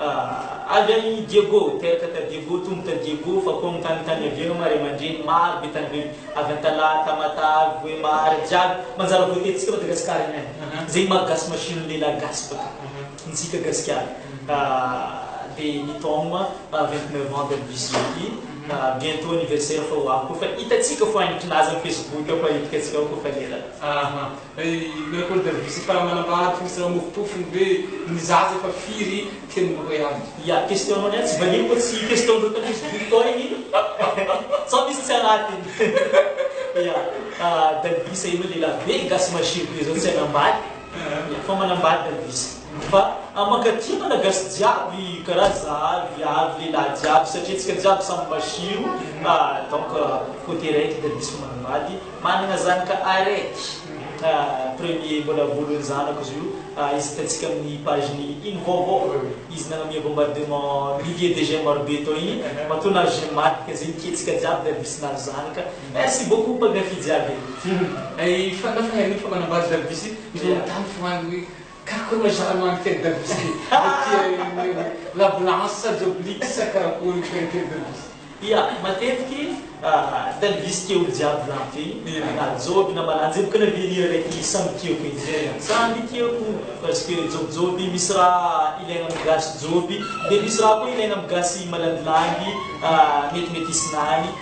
Avy any Diego, teraka ta Diego, tombo ta Diego, fa koa mitany tany iavena ma ray aman-dreny, maro be tany be, avy Antalaha, Tamatave, Vohemar, jiaby, manjara voatetintsika Madagascar iny any, zegny maha gasy machine ny lehilahy gasy baka, ntsika gasikara, de ny taogno vingt neuf ans de bis ity, bientot anniversaire fa ho avy koa fa hitatsika foagna ny kinazy am facebook ao fa hitatsika ao koa fa lera. Ilay Leopold de Visita manambara tsy misy lamofopofo ny hoe ny zaza efa firy teny no hoe any. Ya question nao niany tsy valiany koa tsy question ndreo tanindry victor iny sao misy tsy anatiny ya dalvisa enao lehilahy be gasy mahery be zao tsy hanambaly ya fa manambaly dalvisa fa mankatia malagasy jiaby karaha za avy avy lehilahy jiaby satria tsika jiaby samy masiro donc cote raiky dalvisa fa manambaly Manana zanaka araiky a premier mbola voalohin'ny zanako izy io a hitantsika amin'ny page ny iny vaovao izy nanome bombardement milliers de j'aime maro be tao iny matoa nahazo j'aime maty ka zay niketsika jiaby dia ravitsy nahazo zanaka merci beaucoup mpankafy jiaby e. Efa nafanain'olona fa manambady ravitsy izy manontany foagna hoe. Kako na zara mani tête de bus ity amin'ny hoe la blanche sa joblix sa karakory ity ny tête de bus. Ia, matetiky tête de bus tiako jiaby zany ty, na joby na ba jiaby ka na verrière raiky samy tiako edy zay zany, samy tiako parce que jobijoby misy raha ilaina amin'ny gasy joby dia misy raha koa ilaina amin'ny gasy malandilandy metimety hisy lany.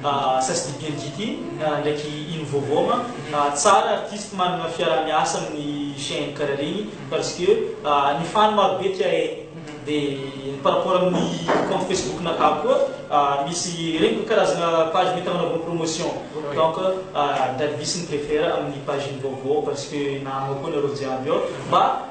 Mba sasdidy mgt ndraiky ino vaovao ma a tsara artiste manana fiaraha miasa aminy chaine kara regny parce que ny fan maro be tia e de par rapport aminy compte facebook nakahy koa a misy regny ko karazana page mety agnanaovana promotion donc a ndradvisy miprefera aminy page ny vaovao parce que nahanao koa nareo jiaby ao mba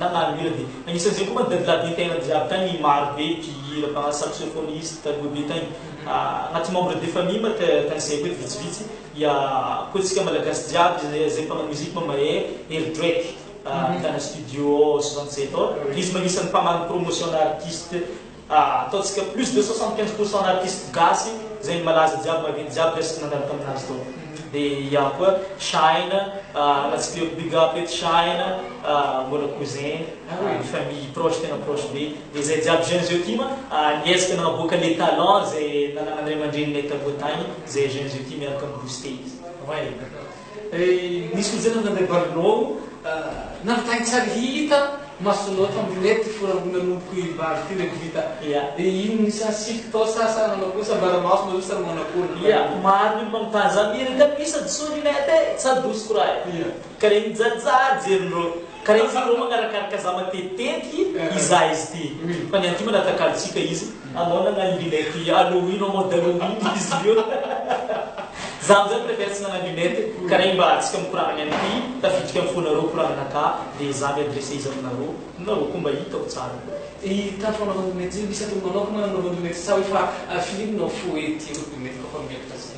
na na hira dia agnisan'izay koa manko dadilahy be tena jiaby tagny i maro be mpihira mpanao saxophoniste taloha be tagny agnaty membre de famille ma te tagny zay koa eto vitsivitsy ia koa tsika malagasy jiaby zay zay mpanao musique ma mahay Hery Drake ahitana studio soixante sept izy ma agnisan'ny mpamaly promotion ana artiste Ataontsika plus de soixante quinze pour cent artistes gasy zay ny malaza jiaby maventy jiaby resaka nandalo taminazy tao de iaho koa shine ratsipiriko big up eto shine mbola cousin famille proche tena proche be de zay jiaby jeunes zio tim niezaka nanaboaka le talent zay nananan'andriamandreny nay taloha tagny zay jeunes zio ty miaraka mi booster izy. Nisy hojana nandray balinao nampitahainy tsara hita masonao tamin'ilety forangona nompo i Bary ty le Gita ia ino ny sa siky tao sa sa nanao kosa bara maso nareo sa manao akory ny ia maro ny olona mitany zany ry tapis sady soa ny net e tsa douce koraha e ka le mijaly tsara jerin'ireo Ka rehefa aleo magarakaraka za matetitetiky izahay izy ty fa ny anty mba natakalontsika izy anao nagnano lunette halloween en mode halloween izy ireo za amizay préfère tsy nagnano lunette ka regny mba atsika mikoragna ny anty tafiditry am fonareo koragnanakà de za mi adresse izy aminareo nareo ko mba hitako tsara ko i ta fanaovana lunette zay misy atao manokana nanaovana lunette sa hoe fa film no fo ety io lunette ko fa miakatra zay.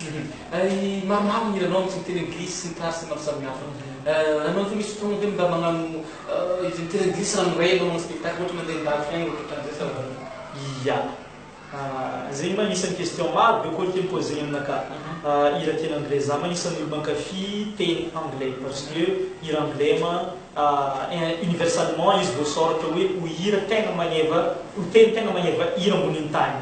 Hum maromaro ny hiranao misy ny teny anglisy sy ny tarse maro samihafa anao ve misy fotoana ve mba magnano izy ny teny anglisy raha miray anao magnano spectacle ohatra mandeha an-dalitra any ohatra ohatran'izay sa ahoana? Ia. Zegny ma isan'ny question maro be koa ake mi-poser aminakahy. Hira teny anglais, za ma isan'ny olo mankafy teny anglais parce que hira anglais ma. universalement izy voasoratra hoe ho hira tegna magneva ho teny tegna magneva hira ambonin'ny tany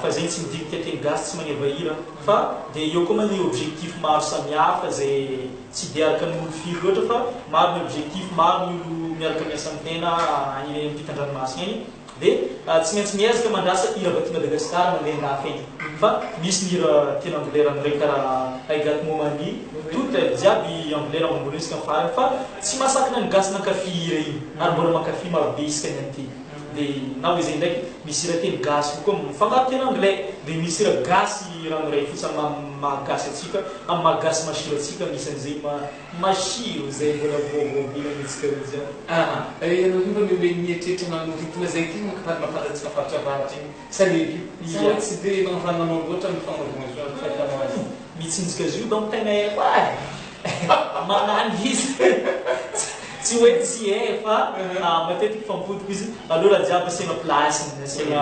fa zegny tsy midinika teny gasy tsy magneva hira fa dia eo koa moa ny objectif maro samihafa zay tsy dia araka ny olo firy loatra fa maro ny objectif maro ny olo miaraka miasa amin'ny tena any ampitan-dranomasina any Dia tsy maintsy miezaka mandrasa hira vaky Madagascar na lehilahy fentina fa misy ny hira tena angolera miray karaha I got momani tout aivo jiaby angolera mamboly isika ny farany fa tsy mahasakana ny gasy mankafy hira iny ary mbola mankafy maro be isika ny anty dia na hoy izay indraiky misy hira teny gasy koa mifangaro teny anglais dia misy hira gasy ranoray fotsy amin'ny maha gasy antsika amin'ny maha gasy masira antsika anisan'izay Machine izay mbola vaovao be nanintsika aloha izany. Aa eh ianareo mba mihomehy mieritreritra manoritina izay tenako fa ny mahafantatsika faritra avaratra io sa ny eto io sa hoe tsy dia manovananao loatra ny fanaovana ny fahitanao azy. Mitsinjika zo donc tegna eh koa eh magnano izy tsy hoe tsy eh fa matetiky fampody koa izy aleo raha jiaby asiana place-ny asiana.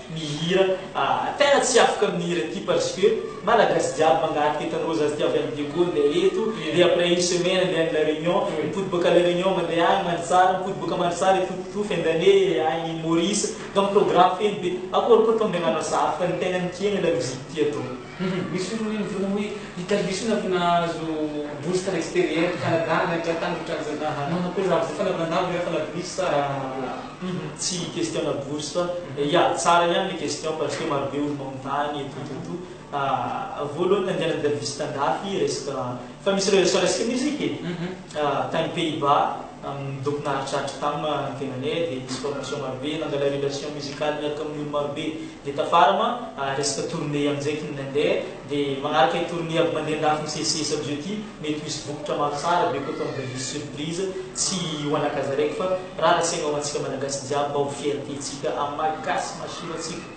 Mihira ahh tena tsy afaka amin'ny hira ty parce que malagasy jiaby mangarika eto anrozy aza ty avy any Diego ndeha eto de après une semaine ndeha any la Réunion mipody boaka la Réunion mandeha any Mandritsara mipody boaka Mandritsara hitopitoto fin d'année any Maurice donc programme feno be akory koa ataon'ny ananasy hafa fa ny tena mikiana la musique ty atao Humm misy fivorian'ny vonoy hita lisy na avy nahazo bourse tany exterieur, Canada, Amerika tany ohatran'ny zany aah Manao akory raha voafana avy nandavo rehefa la bourse sa humm tsy question na bourse fa ya tsara ihany le question parce que maro be olona mamono tany et tout tout tout aah voalohany nandehanan'i Davis tandafy resaka fa misy rehetra resaka musique e! Tany Pays-Bas, amin' ny doc naharitraritra tam ny tenanay, dia nisy formation marobe, nangala relation musicale niaraka amin' ny olo marobe, dia tafara ma resaka tournée amin' izay kny nandeha, dia magnaraka i tournée aby mandeha an-dafy misesisesy aby zao ity, mety ho hisy vokatra maro tsara be koa tonga dia hisy surprise, tsy ho anakazaraiky fa rariny saigna ho antsika Malagasy jiaby mba ho fierté tsika amin' ny maha Gasy, maha Shiro antsika.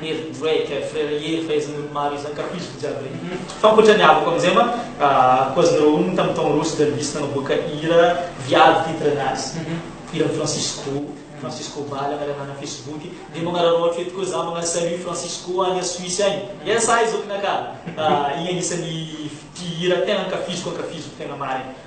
Mary Drake, eh, frère Hery fa izy nony maro izy ankafiziko jiaby regny fa ankoatra ny havako amizay ma ah, cause nareo hono tam taogno roa sy Delvis nagnaboaka hira viavy titre nazy mhm. hiran'i Francisco Francisco Bala agnarana ana Facebook de magnararao hatro eto koa za magnano salut Francisco agny a Suisse agny ya sahy zokinaka ah, igny agnisan'ny mpihira tegna ankafiziko ankafiziko tegna marigny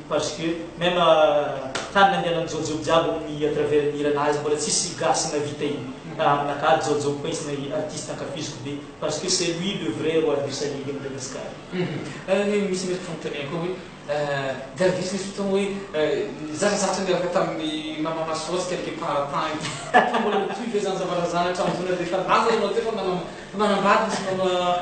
Parce que même tany nandehanan'i jojo jiaby ny à travers ny hira nazy mbola tsisy gasy navita iny ah aminakahy ary jojo pince na artiste ankafiziko be parce que c'est lui le vrai roi du salig à Madagascar. Ary anie misy resaka fanontaniana koa hoe Garbus nisy fotoana hoe nizatrazatra niaraka tamin'ny Maman Masoa sy quelques paratin teo mbola mitohy ve zany zava-razana hatramin'izao na dia efa laza ianao teo fa manam-bady misy manao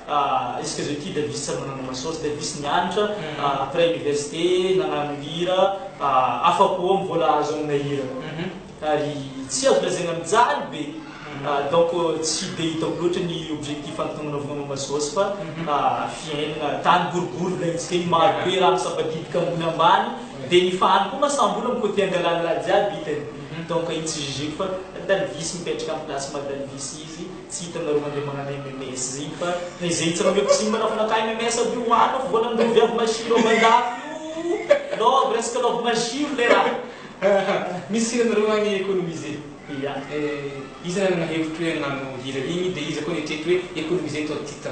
Est-ce que Zoky Davis tsy manana maso ohatry Davis nianatra après université nagnano hira afa po am vola azo amina hira ary tsy azo lazaina mijaly be donc tsy de hitako loatra ny objectif antonona vao maso ohatry fa fiainana tany boribory volaintsika iny maro be raha misampadidiky ambony ambany de ny fahany ko masam bola mi cote angalany raha jiaby hitany donc iny tsy jugeko fa Dalvis mipetraka am place maha Dalvis izy Tsy hitanareo mandeha magnano MMS zegny fa taizehitsy raha mety simba fa naka MMS aby io hoano fa vao nandovy avy masiro avy andafy io love resaka love masiro le raha. Misy hira nareo agny economiser. Ya eh, iza nanana hevitry hoe hagnano hira igny de iza koa nitrety hoe economiser toi titre.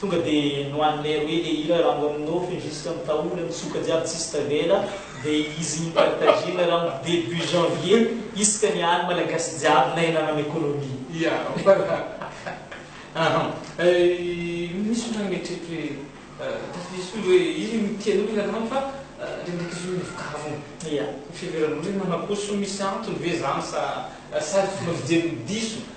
Tonga de nohaninay roe le hira Rambo amin'ny nofy jusque amin'ny taola mitsoka jiaby tsisy tavela de izy ny partagena Rambo debut janvier isaka ny any malagasy jiaby na ianareo amin'ny economie. Ya voilà ahan misy olona mieritreritry hoe tafiditra io hoe izy no tianao ilay rano fa ndraindraiky izy io no vokariny Ya. Ny fiheveran'olona hoe manakoso misy antony ve zany sa sady fomba fijeriny diso.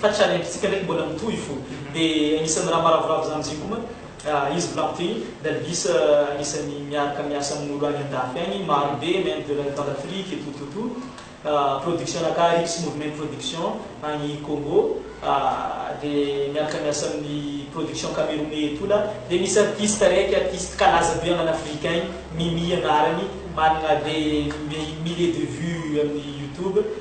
Fa tsy ary ampitsika ndraiky mbola mitohy fo de agnisan'ny raha maravoravo zany zay koa izy volaniko teo igny dalgis agnisan'ny miaraka miasa amin'olo agny andafy agny maro be main d'oeuvre d'afrique tototo production naka rips movement production agny congo de miaraka miasa amin'ny production camerounais etola de misy artiste araiky artiste kalaza be aman afrique agny mimi agnarany managna de milliers de vue amin'ny youtube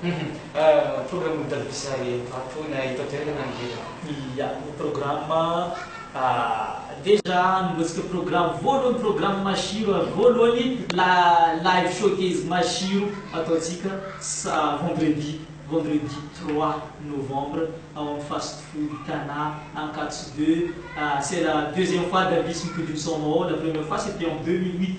Humm programme ny Daddy Bizarre io fa tohina eto an-toerana ny reraka. Ia, ny programme ah déjà nibontsika programme voalohany programme Mashiro ary voalohany la live showcase Mashiro ataontsika sa vendredi vendredi trois novembre ao amin'ny fast food Tana Ankatso deux ah c'est la deuxième fois Daddy Bizz mi-produit ny son-nao ao la première fois c'était en deux mille huit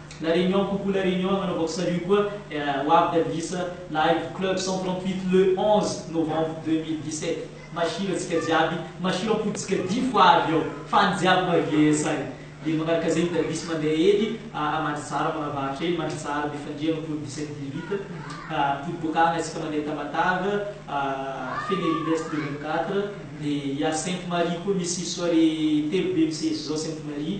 La Réunion coucou la Réunion nanaovako salut koa ho avy Davilysa live club cent trente huit le onze novembre deux mille dix sept Masilo antsika jiaby Masilo ampodintsika difo avy ao fa ny jiaby mavs any dia manaraka zegny Davis mandeha ely a Mandritsara manavahatra ely Mandritsara mifandria ampody dix sept dix huit ampody boaka agny antsika mandeha Tamatave a Fenelli est le vingt quatre dia a Sainte Marie koa misy soirée telo be misesy zao Sainte Marie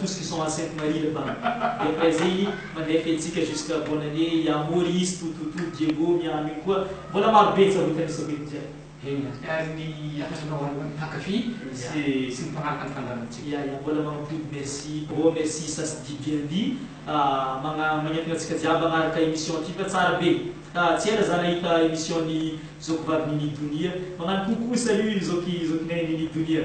Tout ce qui sont à Sainte Marie le Bas dia mba izay mandeha fihetsika jusqu'à bonne année i Amory, izy, Tototo, Diego, Miano iny koa mbola maro be ny tsarota nisy akory jiaby. Eny ary ny hatratra ho an'ny mpankafy sy sy ny mpanaraka ny fandamintsika. Ya ya mbola mampody merci oh merci ça se dit bien dit magna magnentana antsika jiaby agnaraka emission ity fa tsara be ah tsy ela za nahita emission ny zoky vavy Nini Donia magnano coucou salut zoky zokinay Nini Donia